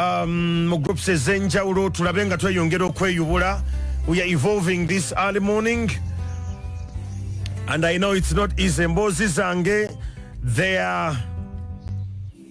Um, mu groups ezenjawulo tulabe nga tweyongera okweyubula we are evolving this early morning and i know it's not easy emboozi zange they are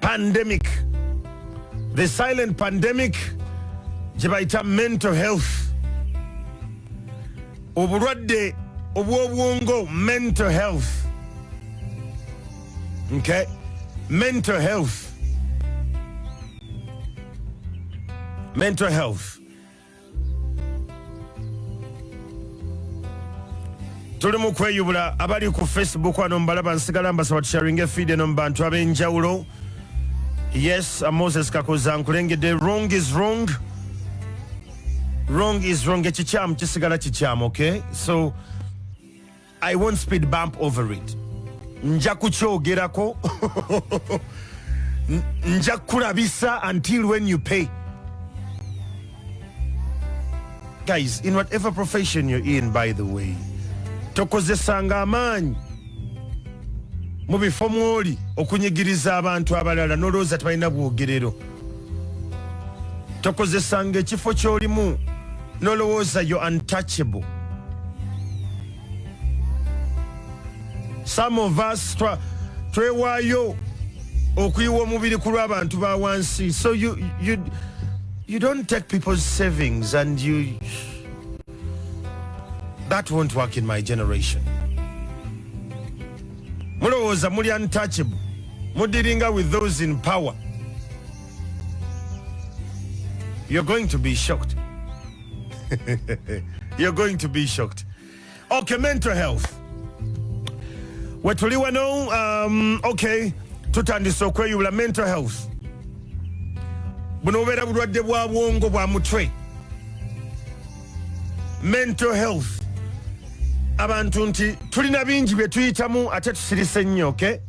pandemic the silent pandemic gye bayita mental health obulwadde obw'obwongo mental health okay mental health mental health tuli mu kweyubula abali ku facebook ano mbalaba nsigala mbasaba tusharinga efeed eno mu bantu ab'enjawulo yes uh, moses kakoza nkulengedde wrong is wrong wrong is wrong ekikyamu kisigala kikyamu okay so I won't speed bump over it. Nja kukyogerako. Nja kurabisa until when you pay. Guys, in whatever profession you're in, by the way, tokozesanga amaanyi mu bifo mwoli okunyigiriza abantu abalala nolowooza tebalina bwogerero tokozesanga ekifo kyolimu nolowooza yo untouchable some of us twewaayo okuyiwa omubiri ku lw'abantu ba wansi so you, you, you don't take people's savings and you that won't work in my generation mulowooza muli untouchable mudiringa with those in power you're going to be shocked you're going to be shocked okay mental health wetuli wano um, okay tutandise okweyubula mental health buno bubeera bulwadde bwa bwongo bwa mutwe mental health abantu nti tulina bingi bye tuyitamu ate tusirise nnyo oke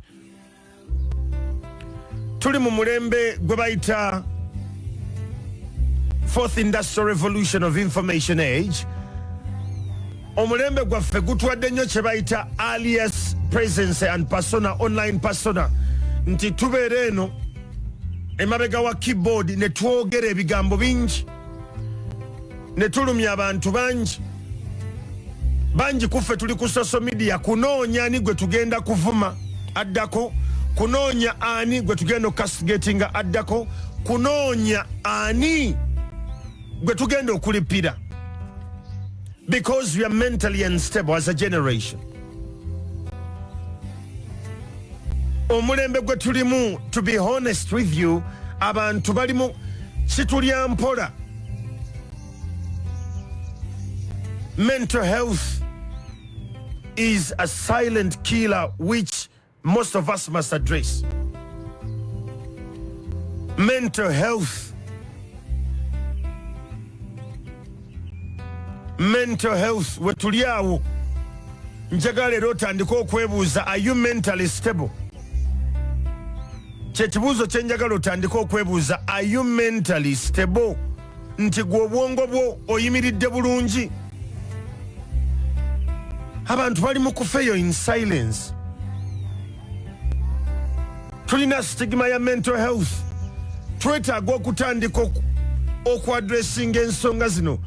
tuli mu mulembe gwe bayita fourth industrial revolution of information age omulembe gwaffe gutwadde nnyo kye bayita alias presence and persona online persona nti tubeera eno emabega wa keyboard ne twogera ebigambo bingi ne tulumya abantu bangi bangi kuffe tuli ku social media kunoonya ani gwe tugenda kuvuma addako kunoonya ani gwe tugenda okukastigatinga addako kunoonya ani gwe tugenda okulipira because we are mentally unstable as a generation omulembe gwe tulimu to be honest with you abantu balimu kitulya mpola mental health is a silent killer which most of us must address mental health mental health wetuli awo njagala era otandike okwebuuza are you mentally stable kyekibuuzo kyenjagala otandike okwebuuza are you mentally stable nti gwe obwongo bwo oyimiridde bulungi abantu bali mu kufeeyo in silence tulina sitigima ya mental health twetaaga okutandika okuadressinga ensonga zino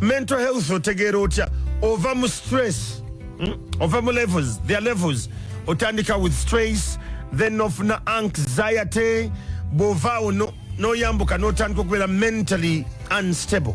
mental health otegeera otya ova mu stress hmm? ova mu levels their levels otandika with stress then ofuna anxiety bwovaawo noyambuka notandika okubeera mentally unstable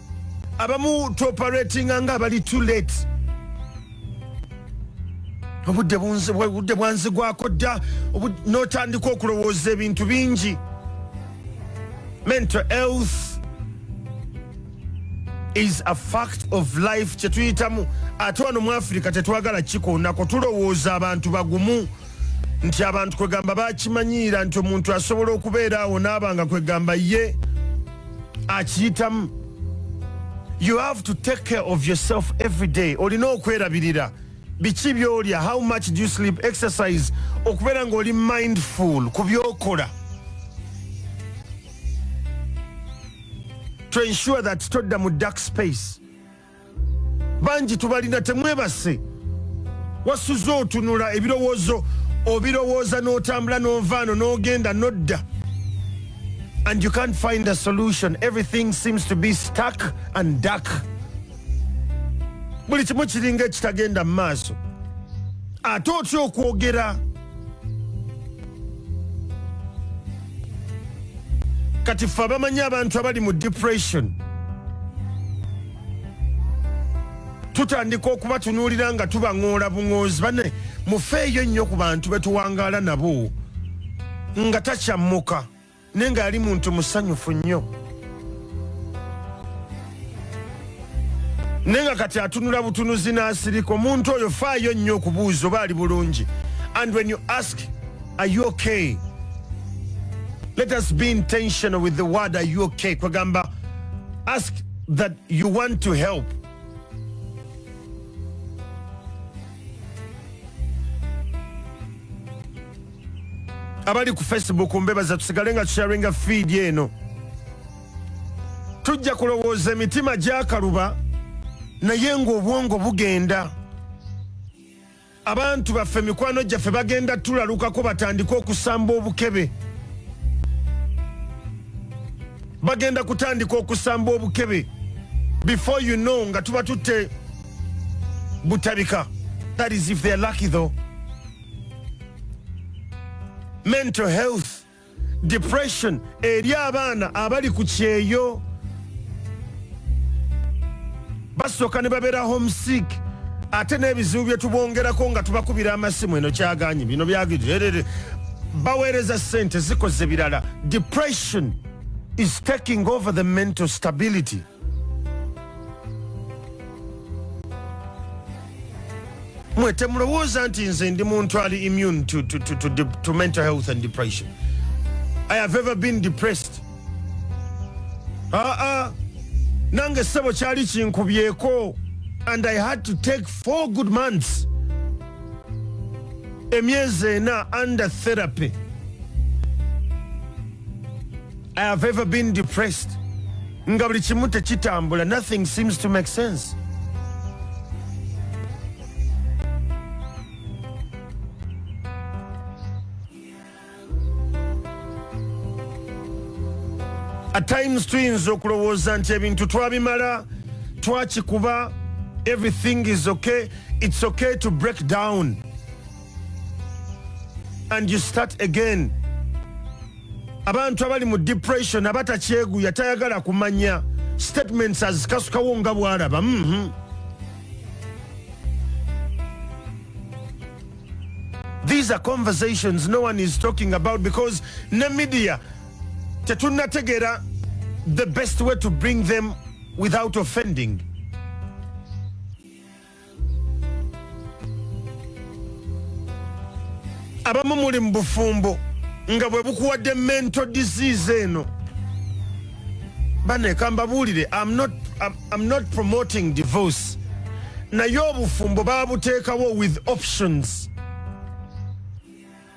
abamu tuoperatinga nga abali too late obudde budde bwanzigwako dda notandika okulowooza ebintu bingi mental health is a fact of life kyetuyitamu ate wano mu afirika tetwagala kikoonako tulowooza abantu bagumu nti abantu kwegamba bakimanyiira nti omuntu asobola okubeera awo naabanga kwegamba ye akiyitamu you have to take care of yourself every day olina okwerabirira biki byolya how much do you sleep exercise okubeera ngaoli mindful ku byokola to ensure that todda mu dark space bangi tubalina temwebase wasuze otunula ebirowoozo obirowooza n'otambula n'ovaano n'ogenda n'odda and you can't find a solution everything seems to be stuck and duck buli kimu kiringa ekitagenda mu maaso ate otya okwogera kati ffe abamanyi abantu abali mu depression tutandika okubatunuulira nga tubaŋoola buŋoozi bane mufeeyo nnyo ku bantu betuwangaala nabo nga takyammuka naye ng'ali muntu musanyufu nnyo naye nga kati atunula butunuzi n'asirika omuntu oyo faayo nnyo okubuuza oba ali bulungi and when you ask are you okay let us be intentional with the word are you okay kwegamba ask that you want to help abali ku facebook mbebaza tusigale nga tusharinga fiidi eno tujja kulowooza emitima gyakaluba naye ngaobwongo bugenda abantu baffe mikwano gyaffe bagenda tulalukako batandike okusamba obukebe bagenda kutandika okusamba obukebe before you know nga tuba tutte butabika that is if they're lucky though mental health depression eri abaana abali ku kyeyo basooka ne babeera homesick ate n'ebizibu bye tubongerako nga tubakubira amasimu eno kyaganye bino byagirere baweereza sente zikoze birala depression is taking over the mental stability mwe temulowooza nti nze ndi muntu ali immune to, to, to, to, to mental health and depression i have ever been depressed aa ah, ah. nange sebo kyali kinkubyeko and i had to take four good months emyezi ena under therapy I have ever been depressed nga buli kimu tekitambula nothing seems to make sense at times tuyinza okulowooza nti ebintu twabimala twakikuba everything is okay it's okay to break down and you start again abantu abali mu depression abatakyeguya tayagala kumanya statements azikasukawo nga bwalaba mm -hmm. these are conversations no one is talking about because ne media tetunategera the best way to bring them without offending abamu muli mu bufumbo nga bwe bukuwadde mental disease eno baneka mbabuulire am not, I'm, I'm not promoting divorce naye obufumbo babuteekawo with options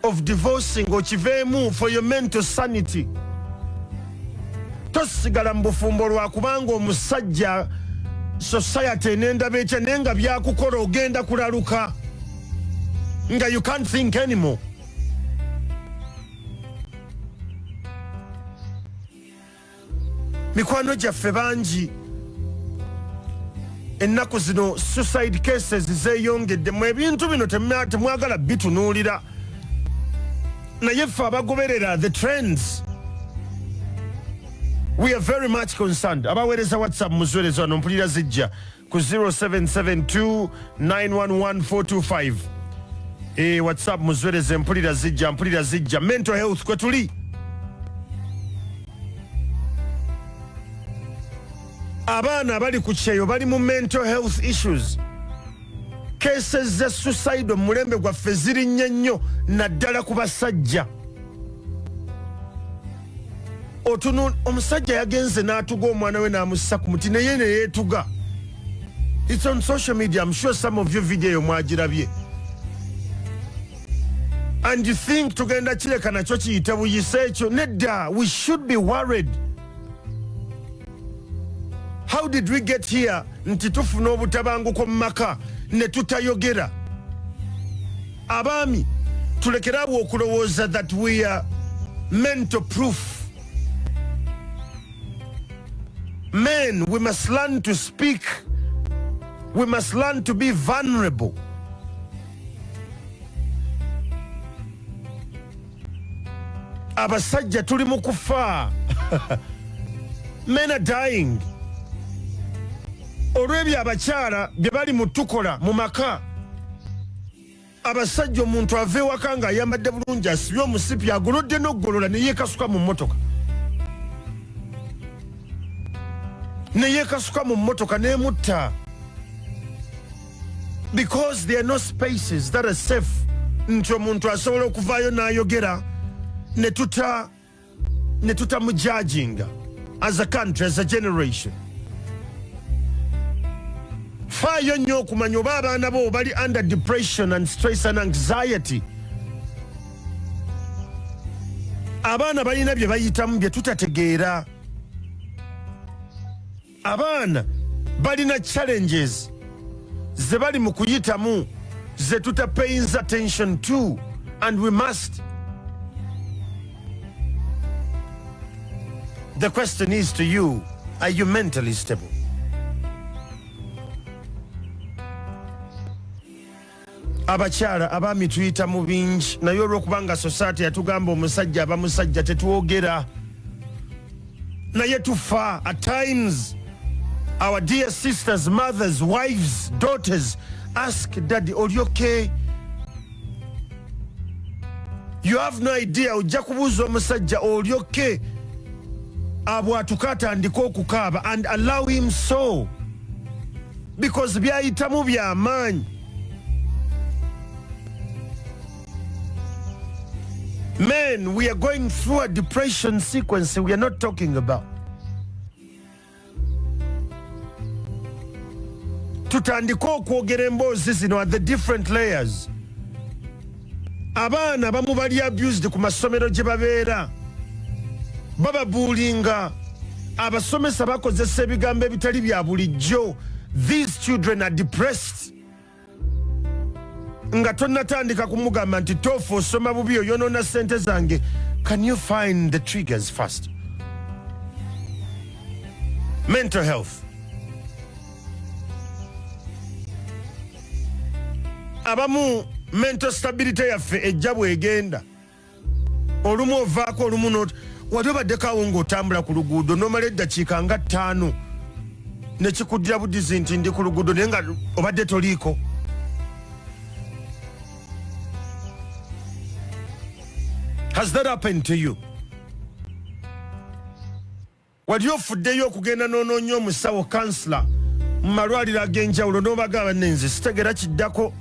of divorcing okiveemu for your mental sanity tosigala mu bufumbo lwakubanga omusajja society enendaba ekya naye nga byakukola ogenda kulaluka nga you can't think anymore mikwano gyaffe bangi ennaku zino suicide cases zeyongedde mu ebintu bino temwagala bitunuulira naye ffe abagoberera the trends we are very much concerned abaweereza whatsapp muzwerezo ano mpulira zijja ku 0772911425 e eh, whatsapp muzwereze mpulira zijja mpulira zijja mental health kwe tuli abaana abali ku kyeyo bali mu mental health issues cases za suicide omulembe gwaffe zirinnye nnyo naddala ku basajja otunul omusajja yagenze n'atuga omwana we n'amussa ku muti naye ne yeetuga its on social media im sure some of you video eyo mwagirabye and you think tugenda kireka nakyo kiyite buyise ekyo nedda we should be worried how did we get here nti tufuna obutabanguko mu maka ne tutayogera abaami tulekere awo okulowooza that we are mental proof men we must learn to speak we must learn to be vulnerable abasajja tuli mu kufa men are dying olw'ebyo abakyala bye bali mu tukola mu maka abasajja omuntu ava ewaka nga ayambadde bulungi asibye omusipi agolodde n'okugolola neyekasuka mu mmotoka neyekasuka mu mmotoka nemutta because there are no spaces that are safe nti omuntu asobola okuvaayo n'ayogera ne tuta ne tutamujajinga as a country as a generation faayo nnyo okumanya oba abaana bo bali under depression and stress and anxiety abaana balina bye bayitamu bye tutategeera abaana balina challenges ze bali mu kuyitamu ze tuta payings attention to and we must the question is to you are you mentally stable abakyala abaami tuyita mu bingi naye olwokubanga sosaati yatugamba omusajja aba musajja tetwogera naye tufa at times our dear sisters mothers wives daughters ask daddy oli okay you have no idea ojja kubuuza omusajja oli okay abwatuka atandika okukaaba and allow him so because byayitamu byamaanyi men we are going through a depression sequence we are not talking about tutandike okwogera emboozi zino at the different layers abaana abamu bali abused ku masomero gye babeera bababuulinga abasomesa bakozesa ebigambo ebitali bya bulijjo these children are depressed nga tonatandika kumugamba nti tofu osoma bubi oyonona sente zange can you find the triggers first mental health abamu mental stability yaffe ejja bwegenda olumu ovaako olumu not wali obaddekawo ngaotambula ku luguudo nomala eddakiika nga ttaano nekikuddira budizi nti ndi ku luguudo naye nga obadde toliiko has that happened to you Wali ofuddeyo okugenda n'onoonya omusawo, counsellor, mu malwaliro ag'enjawulo n'obaga banne nze sitegera kiddako?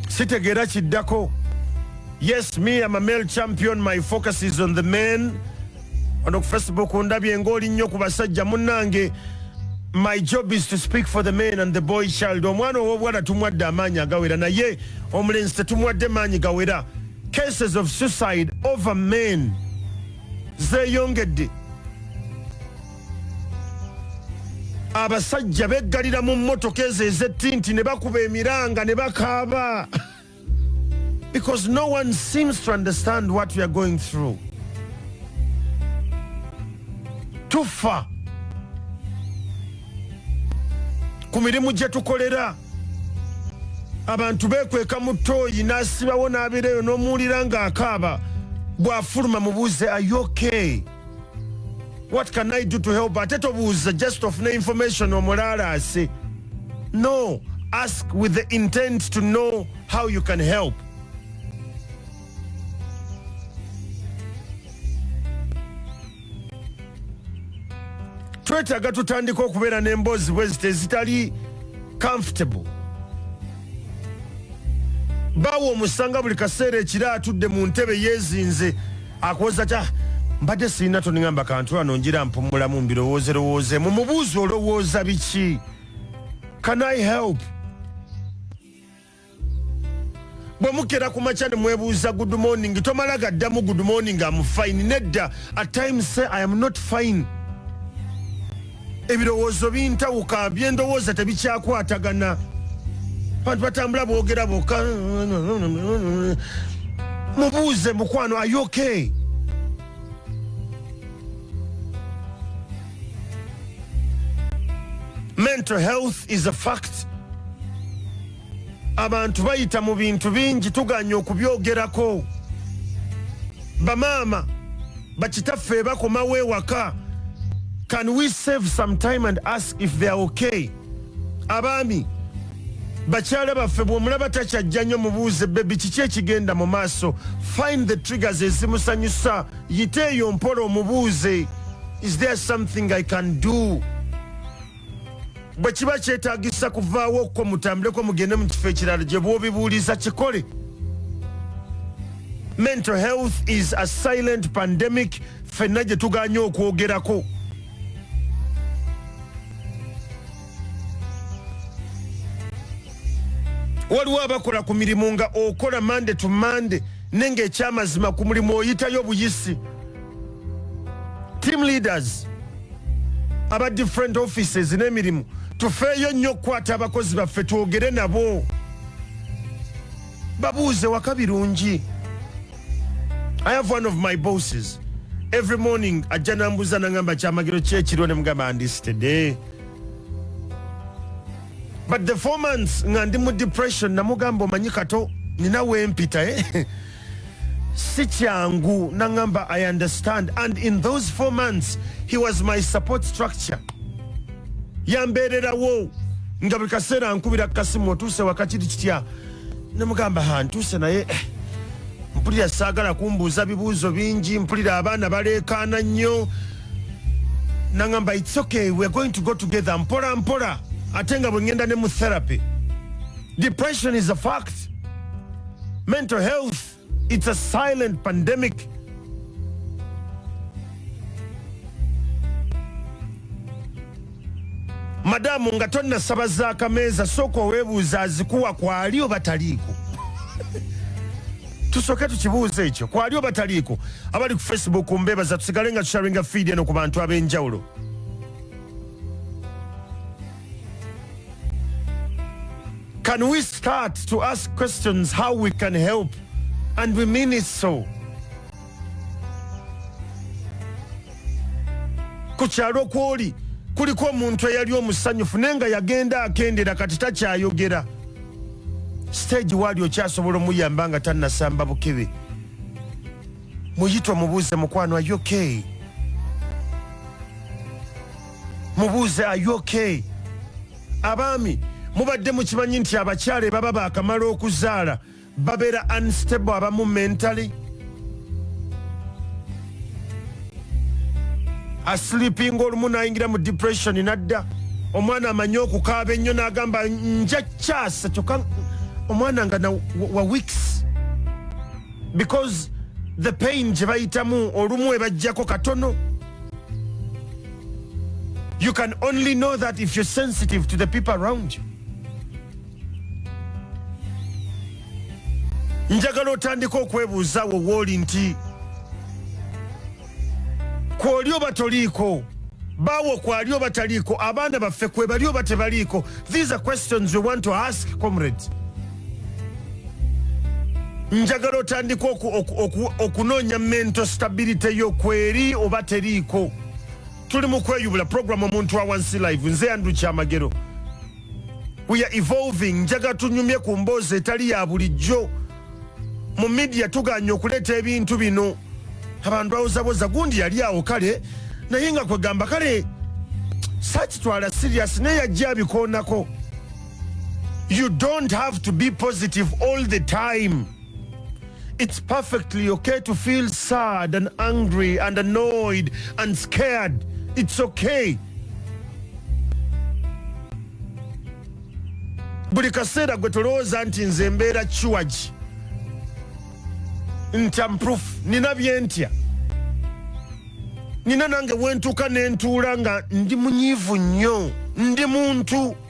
Sitegera kiddako? Yes, me, I'm a male champion. My focus is on the men. wano ku facebook ndabye ng'oli nnyo ku basajja munnange my job is to speak for the man and the boy child omwana ow'obuwala tumwadde amaanyi agawera naye omulenzi tetumwadde maanyi gawera cases of suicide over men zeeyongedde abasajja beggalira mu mmotoka ezo ezettinti ne bakuba emiranga ne bakaaba Because no one seems to understand what we are going through. Too far. ku mirimu gye tukolera abantu bekweka mu tooyi n'asibawo n'abeera eyo n'omuwulira ng'akaaba bw'afuluma mubuuze ayoke what can i do to help ate tobuuza just ofune information omulaalaase no ask with the intent to know how you can help twetaaga tutandika okubeera n'emboozi bwezita ezitali comfortable baawo omusanga buli kaseera ekiro atudde mu ntebe yeezinze akuwoza ta mbadde sirina toningamba kantu ano njira mpumulamu mbirowooze lowooze mu mubuuzi olowooza biki can i help bwe mukera ku makya ne mwebuuza good morning tomala gaddamu good morning am fine nedda at times say i am not fine ebirowoozo bintawuka byendowooza tebikyakwatagana bantu batambula boogera boka mubuuze mukwano ayoke mental health is a fact abantu bayita mu bintu bingi tuganye okubyogerako bamaama bakitaffe bakomawo ewaka can we save some time and ask if they are okay abaami bakyala baffe bwomulaba takyajja nnyo mubuuze bebi kiki ekigenda mu maaso find the triggers ezimusanyusa yite eyo mpola omubuuze is there something i can do bwe kiba kyetagisa kuvaawo okwo mutambuleko mugende mu kifo ekirala gye bwobibuuliza kikole mental health is a silent pandemic fenna gye tuganye okwogerako waliwo abakola ku mirimu nga okola mande to mande nenga ekyamazima ku mulimu oyitayo buyisi team leaders aba different offices n'emirimu tufeeyo nnyo okukwata abakozi baffe twogere nabo babuuze waka birungi i have one of my bosses every morning ajja nambuuza nangamba kyamagero kyekiriwo ne mugamba ndistede but the four months nga ndi mu depression namugamba omanyi kato nina wempita eh? si kyangu naŋamba i understand and in those four months he was my support structure yambeererawo nga buli kaseera nkubira kukasimu otuuse wakakiri kitya nemugamba ha ntuuse naye eh, mpulira saagala kumbuuza bibuuzo bingi mpulira abaana baleekaana nnyo naŋamba its okay we're going to go together mpola mpola ate nga bwe ŋŋenda ne mu therapy Depression is a fact. Mental health, it's a silent pandemic. Madamu nga tonnasaba za kameeza sooka oweebuuza azikuwa kwali oba taliiko. tusooke tukibuuza ekyo kwali oba taliiko. Abali ku Facebook mbeebaza tusigale nga tusharinga feed eno ku bantu ab'enjawulo. Can we start to ask questions how we can help? And we mean it so. ku kyalo kwoli kuliko omuntu eyali omusanyufu naye nga yagenda akendera kati takyayogera siteegi waali okyasobola omuyamba nga tannasamba bukebe muyita omubuuze mukwano ayoke okay. mubuuze are you okay abaami mubadde mukimanyi nti abakyala ebaba bakamala okuzaala babeera unstable abamu mentally asleeping olumu nayingira mu depression nadda omwana amanyi okukaaba ennyo nagamba nja kyasa kyoka omwana nga wa weeks because the pain gye bayitamu olumu ebajjako katono You can only know that if you're sensitive to the people around you. njagala otandika okwebuuza wo wooli nti kwoli oba toliiko baawo kwali oba taliiko abaana baffe kwebali oba tebaliiko these are questions we want to ask comrades njagala otandika okunoonya mental stability yo kweri oba teriiko tuli mu kweyubula program omuntu wa wansi live nze andrew kyamagero we are evolving njaga tunyumye ku mboozi etali ya bulijjo mu midia tuganye okuleeta ebintu bino abantu bawozaboza gundi yali awo kale naye nga kwegamba kale sakitwala sirias naye yajja abikoonako You don't have to be positive all the time. It's perfectly okay to feel sad and angry and annoyed and scared. It's okay. buli kaseera gwe tolowooza nti nze mbeera kiwagi nti amproof nina byentya nina nange wentuuka nentuula nga ndi munyiivu nnyo ndi muntu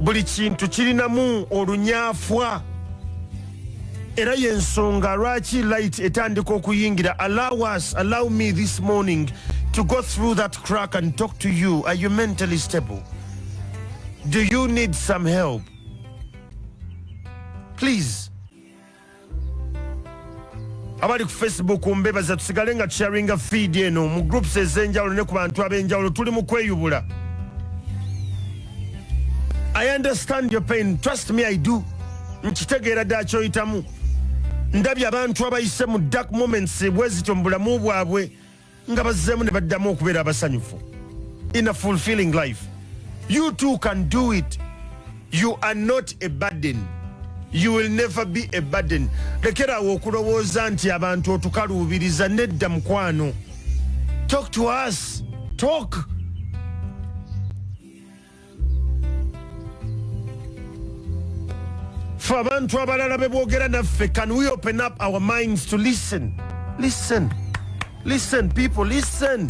buli kintu kirinamu olunyafwa era yensonga lwaki light etandika okuyingira allow us allow me this morning to go through that crack and talk to you are you mentally stable do you need some help please abali ku facebook mbebaza tusigale nga tusharinga feed eno mu groups ezenjawulo ne ku bantu abenjawulo tuli mu kweyubula i understand your pain trust me i do nkitegeera ddala kyoyitamu ndabye abantu abayise mu dark moments bwezityo mu bulamu bwabwe nga bazzeemu ne baddamu okubeera abasanyufu in a fulfilling life you too can do it you are not a burden you will never be a burden lekeraawo okulowooza nti abantu otukaluubiriza nedda mukwano talk to us talk ffe abantu abalala bebwogera naffe can we open up our minds to listen listen listen people listen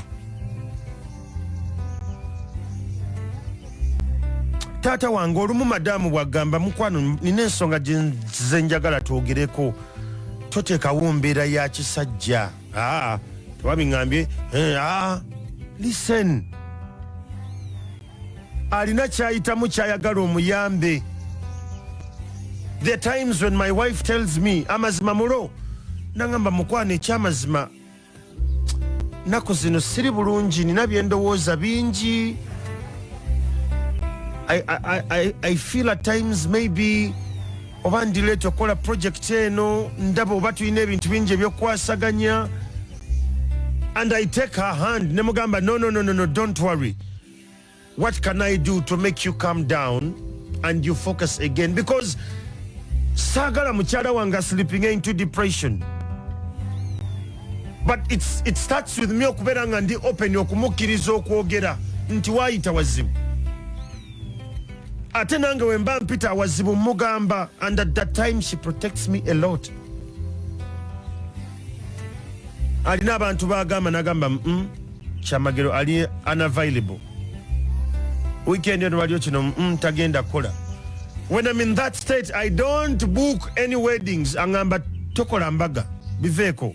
taata wange olumu madamu bwagamba mukwano nina ensonga gyenze njagala twogereko toteekawo mbeera ya kisajja ah, tewabingambye eh, ah, listen alina kyayitamu kyayagala omuyambe the times when my wife tells me amazima mulo nangamba mukwana ekyamazima naku zino siri bulungi nina byendowooza bingi I, I, I, I feel at times maybe oba ndileeta okukola project eno ndaba oba tulina ebintu bingi ebyokukwasaganya and i take her hand ne mugamba no, no, no, no, no, don't worry what can i do to make you come down and you focus again because saagala mukyala wange sleeping into depression but it's, it starts with me okubeera nga ndi open okumukkiriza okwogera nti waayita wazimu ate nange wemba mpita awazibu mugamba and at that time she protects me a lot alina abantu bagamba nagamba mm, mm, kyamagero ali unavailable weekend eno waliyo kino mm, tagenda kukola when im in that state i don't book any weddings angamba tokola mbaga biveeko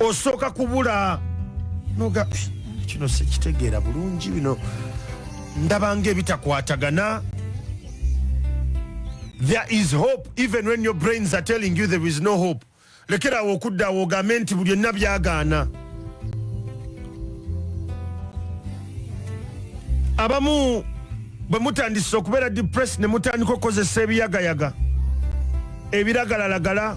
osooka kubula noga kino sekitegeera bulungi bino ndabanga ebitakwatagana there is hope even when your brains are telling you there is no hope lekerawo okuddawo ogambe nti buli enna byagaana abamu bwe mutandise okubeera depress ne mutandika okukozesa ebiyagayaga ebiragalalagala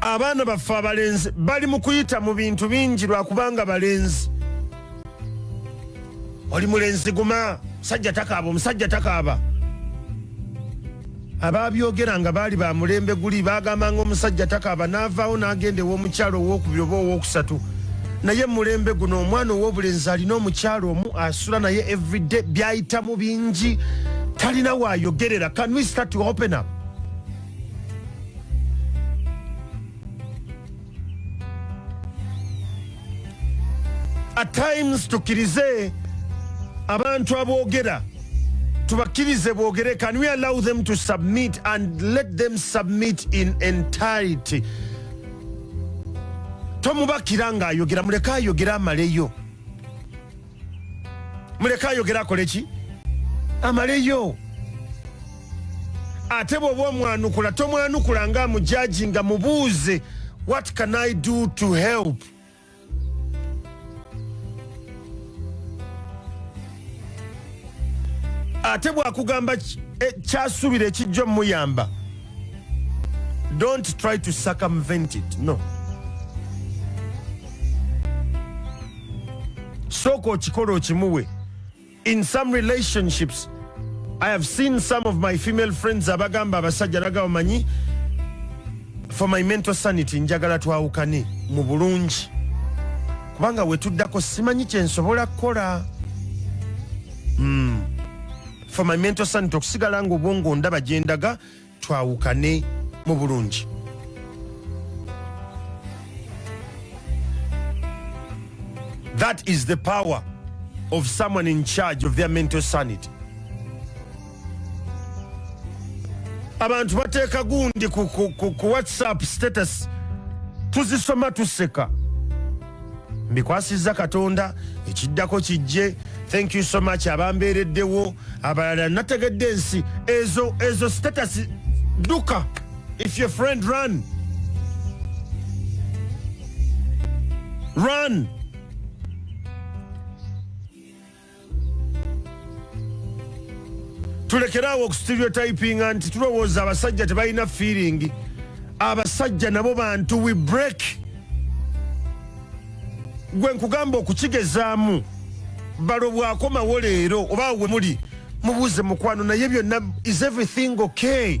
abaana baffe abalenzi bali mu kuyita mu bintu bingi lwakubanga balenzi oli mulenzi guma musajja takaaba omusajja takaaba abaabyogera nga baali ba mulembe guli baagambanga omusajja takaaba n'avaawo n'agenda ew'omukyalo owokubiri oba owokusatu naye mulembe guno omwana ow'obulenzi alina omukyalo omu sula naye everyday byayitamu bingi talina wayogerera can we start to open up at times tukirize abantu aboogera tubakirize boogere can we allow them to submit and let them submit in entirety tomubakira ng'ayogera muleke ayogere amaleyo muleke ayogere akole ki amaleyo ate bwoba omwanukula tomwanukula nga amujaji nga mubuuze what can i do to help ate bwakugamba e, kyasuubira ekijja omuyamba don't try to circumvent it no sooka okikole okimuwe in some relationships i have seen some of my female friends abagamba abasajja naga bamanyi for my mental sanity njagala twawukane mu bulungi kubanga wetuddako simanyi kyensobola kukola mm. for my mental sanity okusigala nga obwongo ndaba gyendaga twawukane mu bulungi that is the power of someone in charge of their mental sanity abantu bateeka gundi ku, ku, ku, ku whatsapp status tuzisoma tuseka mbikwasizza katonda ekiddako kijje thank you so much abambeereddewo abalala nategedde ensi ezo ezo status duka if your friend run run tulekeraawo okustereotypinga nti tulowooza abasajja tebalina feeling abasajja nabo bantu we break gwe nkugamba okukigezaamu balo bwakomawo leero oba we muli mubuuze mukwano naye byonna is everything okay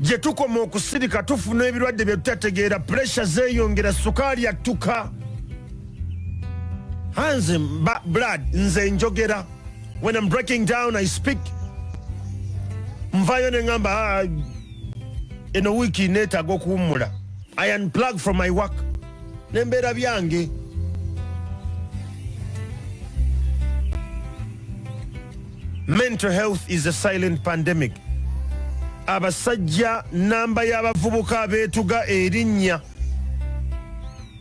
gye tukoma okusirika tufuna ebirwadde bye tutategeera puresha zeeyongera sukaali attuka hanze blood nze njogera when am breaking down i speak nvayo ne ŋamba ah, eno wiiki neetaaga okuwummula i unplug from my work nembeera byange Mental health is a silent pandemic. Abasajja namba y'abavubuka abeetuga erinnya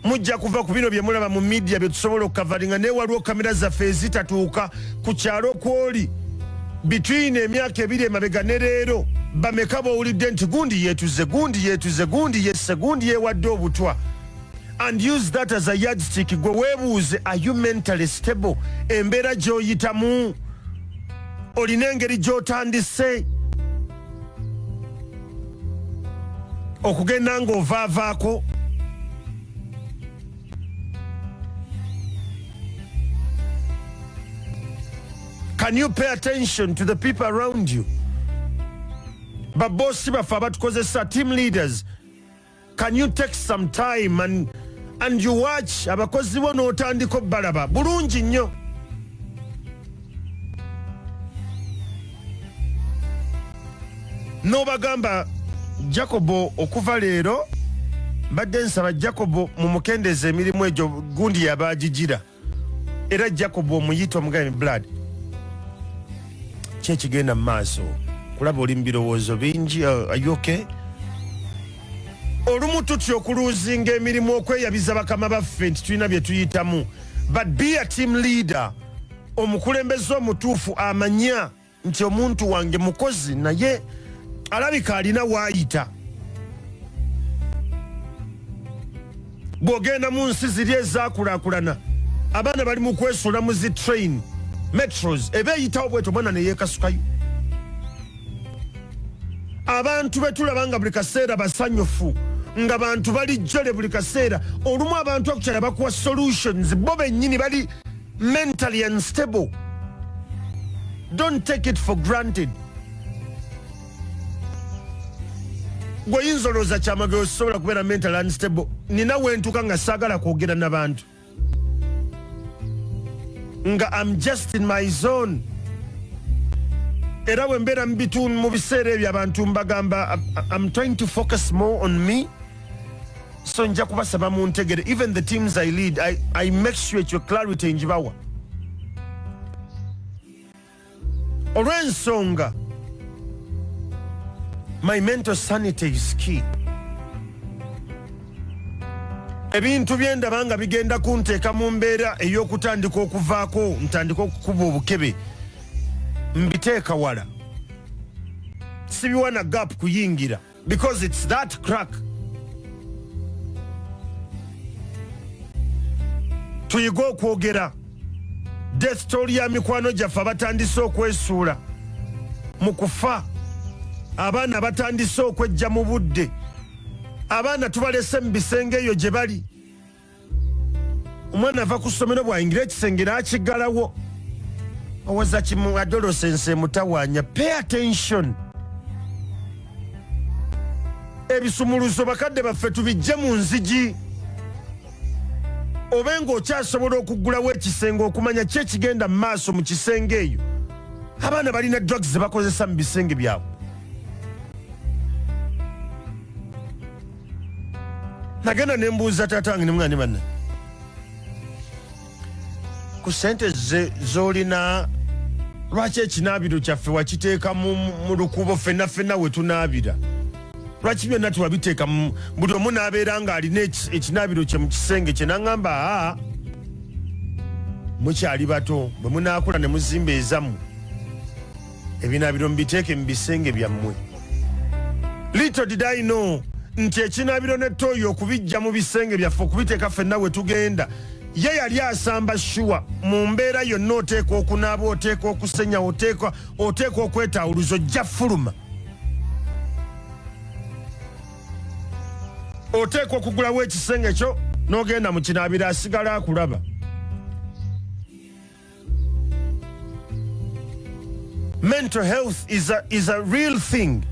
mujja kuva ku bino bye mulaba mu midiya bye tusobola okukavaringa naye waliwo kamera zaffe ezitatuuka ku kyalo kwoli bitwine emyaka ebiri emabega ne leero bameka bowulidde nti gundi yeetuze gundi yeetuze gundi yesse gundi yeewadde obutwa and use that as a yardstick gwe webuuze are you mentally stable embeera gyoyitamu olina engeri gyotandise okugenda ng'ovaavaako can you pay attention to the people around you baboosi baffe abatukozesa team leaders can you take some time and, and you watch abakozi bo n'otandika obbalaba bulungi nnyo n'obagamba jacobo okuva leero mbadde nsaba jacobo mumukendeeza emirimu egyo gundi yabaagigira era jacob omuyita omugabe blood kyekigenda mu maaso kulaba oli mu birowoozo bingi uh, ayoke olumu tutya okuluuzinga emirimu okweyabiza bakama baffe nti tulina bye tuyitamu but be a team leader omukulembeze omutuufu amanya nti omuntu wange mukozi naye alabika alina waayita bw'ogenda mu nsi ziri ezaakulaakulana abaana bali mu kwesuula mu zi train metros eba eyitawo bwetyo omwana ne yeekasukayo abantu be tulaba nga buli kaseera basanyufu nga bantu bali jjole buli kaseera olumu abantu akukyala bakuwa solutions bo bennyini bali mentally unstable don't take it for granted gweoyinza olowooza kyamagero sisobola kubeera mental unstable nina wentuka nga saagala kwogera nabantu nga am just in my zone era bwembeera mu biseera ebyo abantu mbagamba am trying to focus more on me so nja kubasaba mu ntegere even the teams i lead i, I make sure ekyo clarity njibawa olw'ensonga my mental sanity is key ebintu byendaba nga bigenda kunteeka mu mbeera ey'okutandika okuvaako ntandika okukuba obukebe mbiteeka wala sibiwa na gap kuyingira because it's that crack tuyige okwogera desitooli ya mikwano gyaffe abatandise okwesuula mu kufa abaana batandise okwejja mu budde abaana tubalese mu bisenge eyo gye bali omwana ava ku ssomero bwayingira ekisenge n'akiggalawo owoza kimu adolosense emutawaanya pay attention ebisumuluzo bakadde baffe tubijje mu nzigi obe ng'okyasobola okuggulawo ekisenge okumanya ki ekigenda mu maaso mu kisenge eyo abaana balina drugs ze bakozesa mu bisenge byabwe nagenda nembuuza taata wange nemugane banne ku sente zolina lwaki ekinaabiro kyaffe wakiteeka mu lukuubo fenna fenna we tunaabira lwaki byonna tewabiteeka buli omu n'abeera ng'alina ekinaabiro kye mu kisenge kye naŋŋamba aa mukyali bato bwe munaakula ne muzimba ezamu ebinaabiro mubiteeke mu bisenge byammwe little did i know nti ekinaabiro ne tooyi okubijja mu bisenge byaffe okubiteeka ffenna we tugenda ye yali asamba shuwa mu mbeera yonna oteekwa okunaaba oteekwa okusenya oteekwa oteekwa okwetaawuluza ojja fuluma oteekwa okugulawo ekisenge kyo n'ogenda mu kinaabiro asigala akulaba Mental health is a, is a real thing.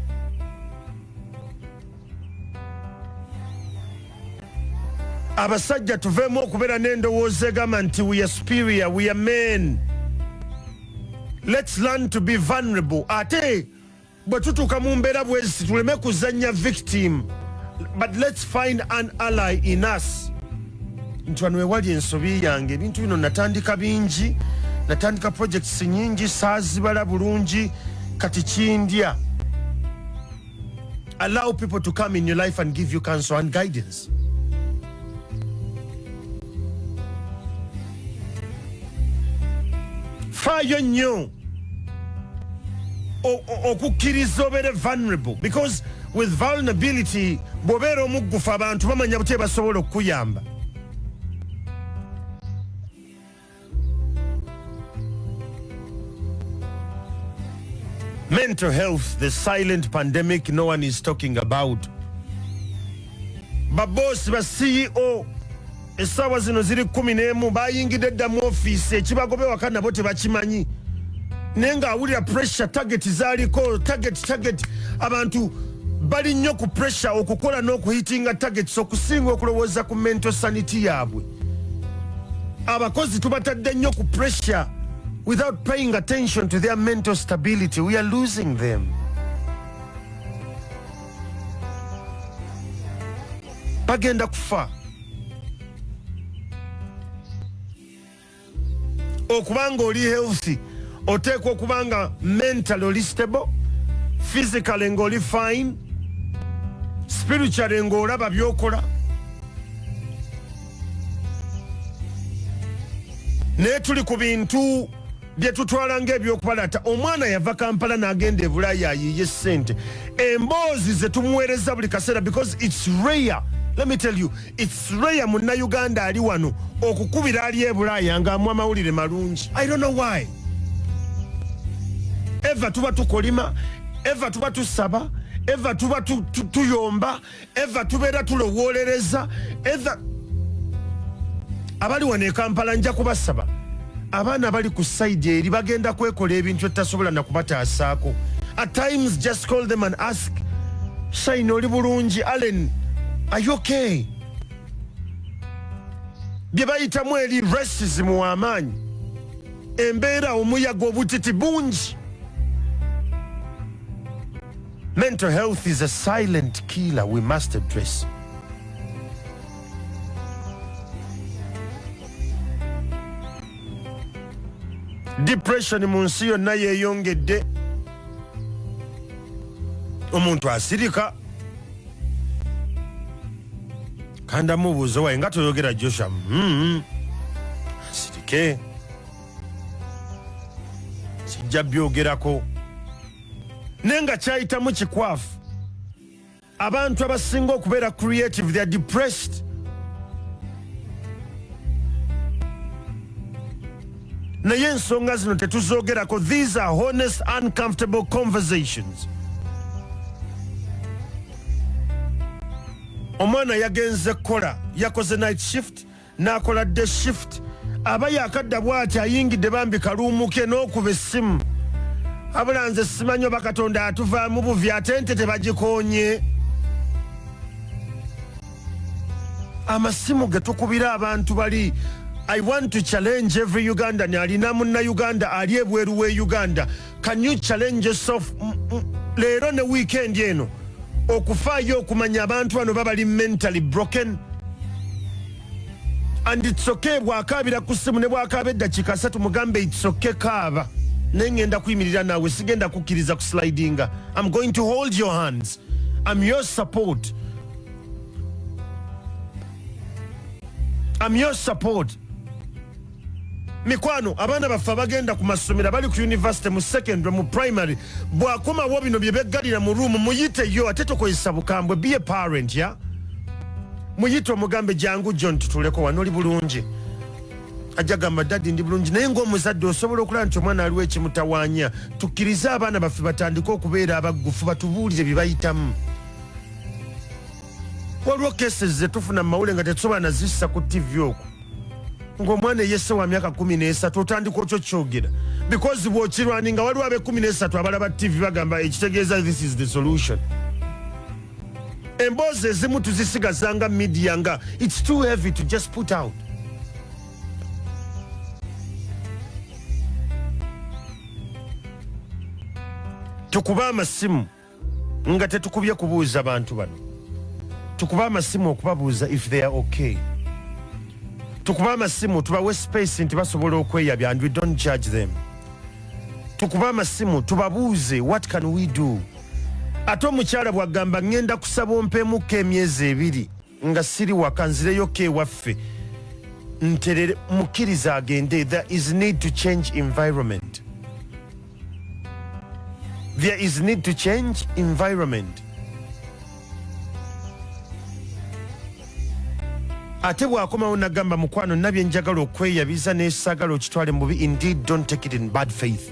abasajja tuveemu okubeera n'endowooza egamba nti we are superior we are men let's learn to be vulnerable ate bwe tutuuka mu mbeera bweziti tuleme kuzannya victim but let's find an ally in us nti wano wewali ensobi yange ebintu bino natandika bingi natandika projects nyingi saazibala bulungi kati kindya allow people to come in your life and give you counsel and guidance faayo nnyo okukkiriza obeere vulnerable because with vulnerability bwobeera omuggufu abantu bamanya butya basobola okukuyamba mental health the silent pandemic no one is talking about baboosi ba ceo essaawa zino ziri kkumi n'emu bayingidde dda mu ofiisi ekibagoba ewaka nabo tebakimanyi naye ng'awulira pressure tageti zaaliko tageti tageti abantu bali nnyo ku pressure okukola n'okuhitinga tagets okusinga okulowooza ku mental sanity yaabwe abakozi tubatadde nnyo ku pressure without paying attention to their mental stability we are losing them bagenda kufa okuba nga oli healthy oteekwa okuba nga mental oli stable physically ngaoli fine spiritually ngaolaba byokola naye tuli ku bintu bye tutwala ng'eby'okubalaata omwana yava kampala n'agenda e bulaaya ayiiye ssente emboozi ze tumuweereza buli kaseera because its rare let me tell you its rare munnayuganda ali wano okukubira ali e bulaaya ng'amu amawulire malungi i don't know why eva tuba tukolima eva tuba tusaba eva tuba tuyomba eva tubeera tulowoolereza etha abali wano ekampala nja kubasaba abaana bali ku saidi eri bagenda kwekola ebintu etasobola nakubataasaako at times just call them and ask shine oli bulungi allen ayoke bye bayitamu eri racism w'amaanyi embeera omuyaga obutiti bungi Mental health is a silent killer we must address. Depression mu nsi yonna yeeyongedde. Omuntu asirika kandamu buuzo waye nga toyogera Joshua mm-hmm. asirike sijja byogerako mm -hmm. naye nga kyayitamu kikwafu abantu abasinga okubeera creative theyare depressed naye ensonga zino tetuzogerako these are honest uncomfortable conversations omwana yagenze kukola yakoze night shift n'akola dde shift aba yakadda bw'ati ayingidde bambi kaluumuke n'okuba essimu abula nze simanyi oba katonda atuvaamu buvi ate nte tebagikoonye amasimu ge tukubira abantu bali i want to challenge every ugandan alina munna uganda ali ebweru w'e uganda Can you challenge yourself mm, mm, leero ne weekend eno okufaayo okumanya abantu bano babali mentally broken and it's okay bwakaabira ku ssimu ne bwakaaba eddakiika asatu mugambe it's okay kaaba naye ngenda kuyimirira naawe sigenda kukkiriza ku slidinga am going to hold your hands am your support am your support mikwano abaana baffe abagenda ku masomero abali ku univesity mu secondary mu primary bwakomawo bino bye beggalira mu room muyiteyo ate tokozesa bukambwe be a parent ya muyite omugambe jangu john tutuleko wano oli bulungi ajja gamba dadi ndi bulungi naye ngaomuzadde osobola okulaba nti omwana aliwo ekimutawanya tukkirize abaana baffe batandike okubeera abaggufu batubuulire bye bayitamu waliwo cases zetufuna mu mawule nga tetusobola nazissa ku ttivi okwo ng'omwana eyese wa myaka kumi n'esatu otandika otyo kyogera because bwokirwani nga waliwo abekumi n'esatu abalaba ttivi bagamba ekitegeeza this is the solution emboozi ezimu tuzisigaza nga media nga its too heavy to just put out tukuba amasimu nga tetukubye kubuuza bantu bano tukuba amasimu okubabuuza if they are okay tukuba amasimu tubawe space nti basobola okweyabya and we don't judge them tukuba amasimu tubabuuze what can we do ate omukyala bwagamba ngenda kusaba ompemuko emyezi ebiri nga siri waka nzireyoko ewaffe nterere mukkiriza agende there is need to change environment there is need to change environment ate bwakomawo nagamba mukwano nabye njagala okweyabiza nesagala okitwale mubi indeed don't take it in bad faith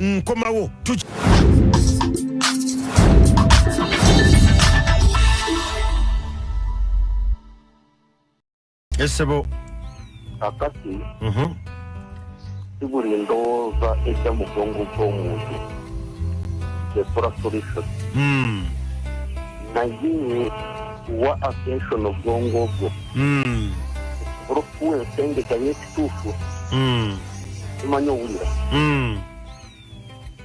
nkomawo esebo kakati mhm. si buli ndowooza ejja mu bwongo bw'omuntu ekora solution hmm. naye wa attention obwongo bwo hmm. okuba okuwa ensengeka ekituufu mm. tumanyi owulira mm.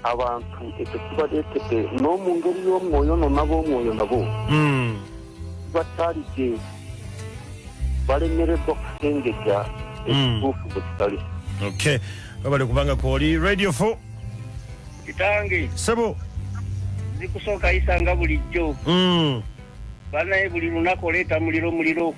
abantu ekyo kibaleetedde n'omu ngeri y'omwoyo no nab'omwoyo nabo mm. batalidde balemereddwa kusengejja ekituufu bwe kitali okay webale kubanga kwoli radio fo kitange sebo zikusooka yisanga bulijjo banaye buli lunaku oleeta muliro muliro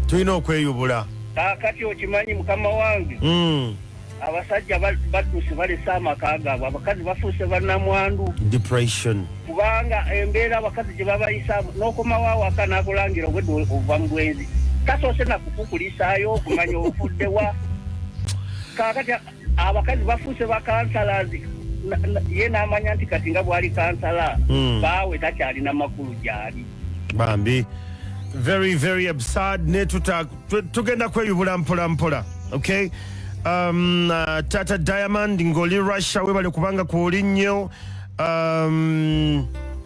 tulina okweyubula kakati okimanyi mukama wange mm. abasajja badduse balese amaka gaabwe abakazi bafuuse banamwandu depression kubanga embeera abakazi gye babayisaamu n'okomawo awaka nakulangira obwedde ova mu bwenzi tasoose nakukukulisaayo okumanya ofuddewa kakati abakazi bafuuse bakansalazi ye n'amanya nti kati nga bwali kansala hmm. baawe takyalina makulu gyali bambi very very absurd ne tugenda kweyubula mpola mpola okay um, uh, tata diamond ngoli russia webale kubanga kwoli nnyo um,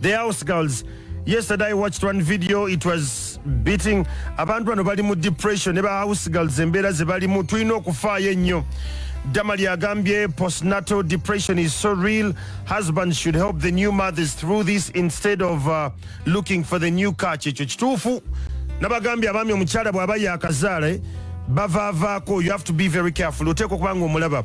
the house girls yesterday i watched one video it was beating abantu bano bali mu depression ne ba house girls embeera ze balimu tulina okufaayo ennyo damali agambye postnatal depression is so real husband should help the new mothers through this instead of uh, looking for the new car kyekyo kituufu nabagambye abaami omukyala bw'aba yaakazaala eh, bavaavaako you have to be very careful oteeka okuba nga omulaba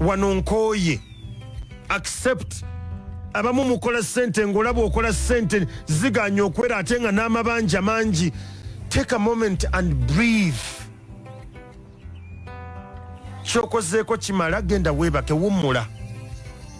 wano nkooye accept abamu mukola sente ngaolaba okola sente ziganya okwera ate nga n'amabanja mangi take a moment and breathe kyokozeeko kimala genda weebake wummula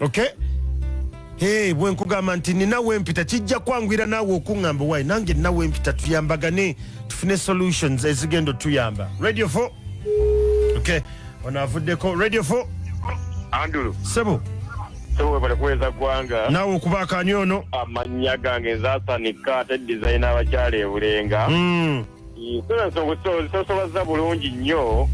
okay Hey, bwe nkugamba nti nina wempita kijja kwangwira naawe okuŋŋamba wayi nange nina wempita tuyambagane tufune solutions ezigenda otuyamba radio 4 okay ono avuddeko radio 4 andulu sebo webale kuweza ggwanga naawe okubaakaani ono amannya gange nzasanika ate dizayina abakyala ebulenga mm. Ensonga ozisosobazza bulungi nnyo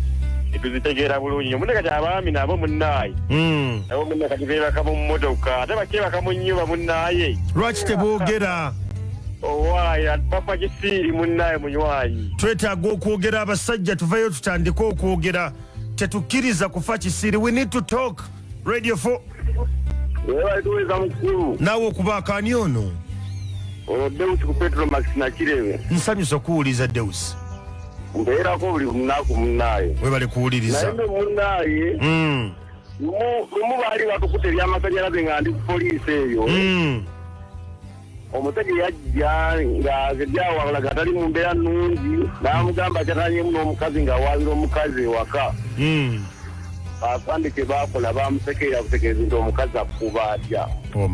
tuzitegeera bulungi nyo munne kati abaami nabo munnaaye hmm. nabo munne kati beebaka mu mmotoka ate bakyebaka mu nnyuba munnaaye lwaki teboogera owaayi papa kisiiri munnaaye munywanyi twetaaga okwogera abasajja tuvayo tutandike okwogera tetukkiriza kufa kisiiri we need to talk radio 4 Webale tuweeza mukulu. naawe okubaako ani ono Ono Deus ku Petro Max Nakirebe. nsanyusa okuwuliza deus Mbeerako buli lunaku munnaaye. webale Naye kuwuliriza nno munnaaye Mm, lumu lumu baali batukute eby'amasannyalaze nga ndi ku poliisi eyo. mm. omusajja yajja ng'azebyawawula nga tali mu mbeera nnungi n'amugamba akyatanyemu n'omukazi ng'awaabira omukazi ewaka hmm. basambe kye baakola bamusekeera kutegeeza nti omukazi akuba atya oh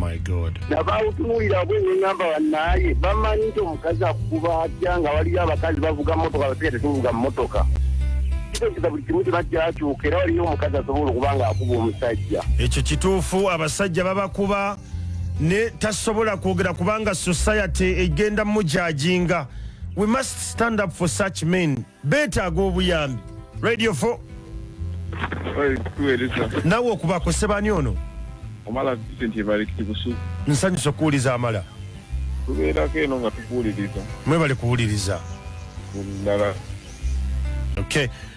nabawutunuulira bwe neŋamba bannaaye bamanyi nti omukazi akuba atya nga waliyo abakazi bavuga motoka basika tetuvuga mu motoka kitegeeza buli kimu kiba kyakyuka era waliyo omukazi asobola okuba ng'akuba omusajja ekyo kituufu abasajja babakuba ne tasobola kwogera kubanga society egenda mujajinga we must stand up for such men betaaga obuyambi radio 4 nawe okubako sebani ono nsanyusa okuwuliza amala tubeerako eno nga tukuwuliriza mwebale kuwuliriza ddala okay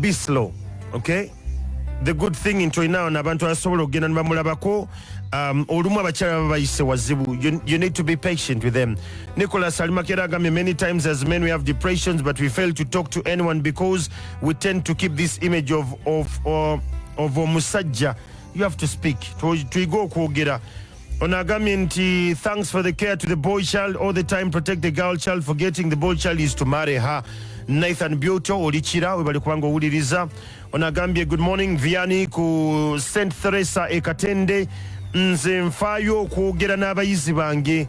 be slow okay the good thing nti olinawo nabantu abasobola okugenda nibamulabako um, olumu abakyala baba bayise wazibu you, you need to be patient with them nicolas alimakera agambye many times as men we have depressions but we fail to talk to anyone because we tend to keep this image of, of, uh, of omusajja you have to speak tuyige okwogera Ono agambye nti thanks for the care to the boy child all the time protect the girl child forgetting the boy child is to marry her Nathan Beauty olikira webali kubanga owuliriza ono agambye good morning Viani ku St Theresa e Katende nze nfaayo okwogera n'abayizi bange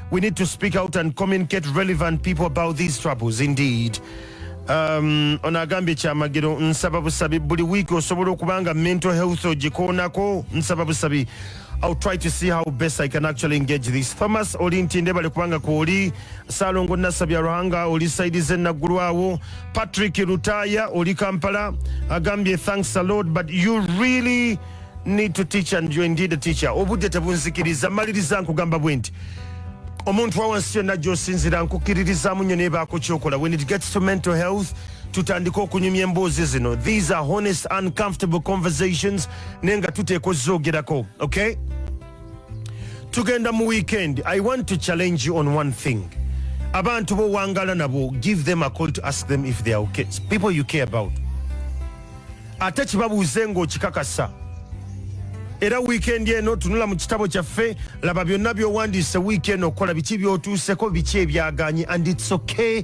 We need to speak out and communicate relevant people about these troubles indeed. Um, ono agambye kyamagero nsaba busabi buli wiiki osobola okuba nga mental health ogikoonako nsaba busabi I'll try to see how best I can actually engage this. Thomas oli ntinde bali kubanga kwoli Salongo Nasabya Ruhanga oli saidi ze naggulwawo Patrick Lutaya oli Kampala agambye thanks a lot but you really need to teach and you're indeed a teacher obudde tebunzikiriza maliriza nkugamba bwe nti omuntu wawansi yonna gyosinzira nkukiririzamu nyo nebaako kyokola when it gets to mental health tutandike okunyumya emboozi zino these are honest uncomfortable conversations naye nga tuteeka ozoogerako okay tugenda mu weekend i want to challenge you on one thing abantu bowangala nabo give them a call to ask them if they are okay people you care about ate kibabuuze ng'okikakasa era wiikendi eno tunula mu kitabo kyaffe laba byonna byowandiise wiiki eno okukola biki byotuuseko biki ebyaganye and its okay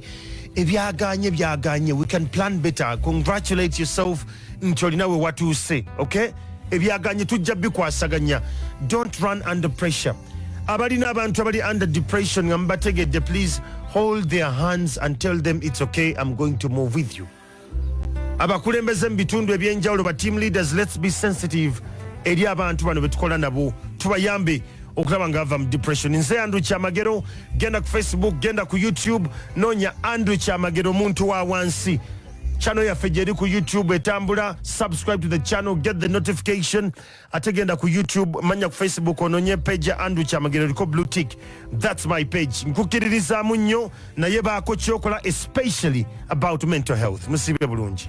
ebyaganye byaganye we can plan better congratulate yourself nti olina we watuuse okay ebyaganye tujja bikwasaganya don't run under pressure abalina abantu abali under depression nga mubategedde please hold their hands and tell them it's okay i'm going to move with you abakulembeze mu bitundu ebyenjawulo ba team leaders let's be sensitive eri abantu bano betukola nabo tubayambe okulaba nga ava mu depression nze andrew kyamagero genda ku facebook genda ku youtube nonya andrew kyamagero omuntu wa wansi channel yaffe gyeri ku youtube etambula subscribe to the channel get the notification ate genda ku youtube manya ku facebook ononye page ya andrew kyamagero oliko blue tick thats my page nkukiririzamu nnyo naye baako kyokola especially about mental health musibe bulungi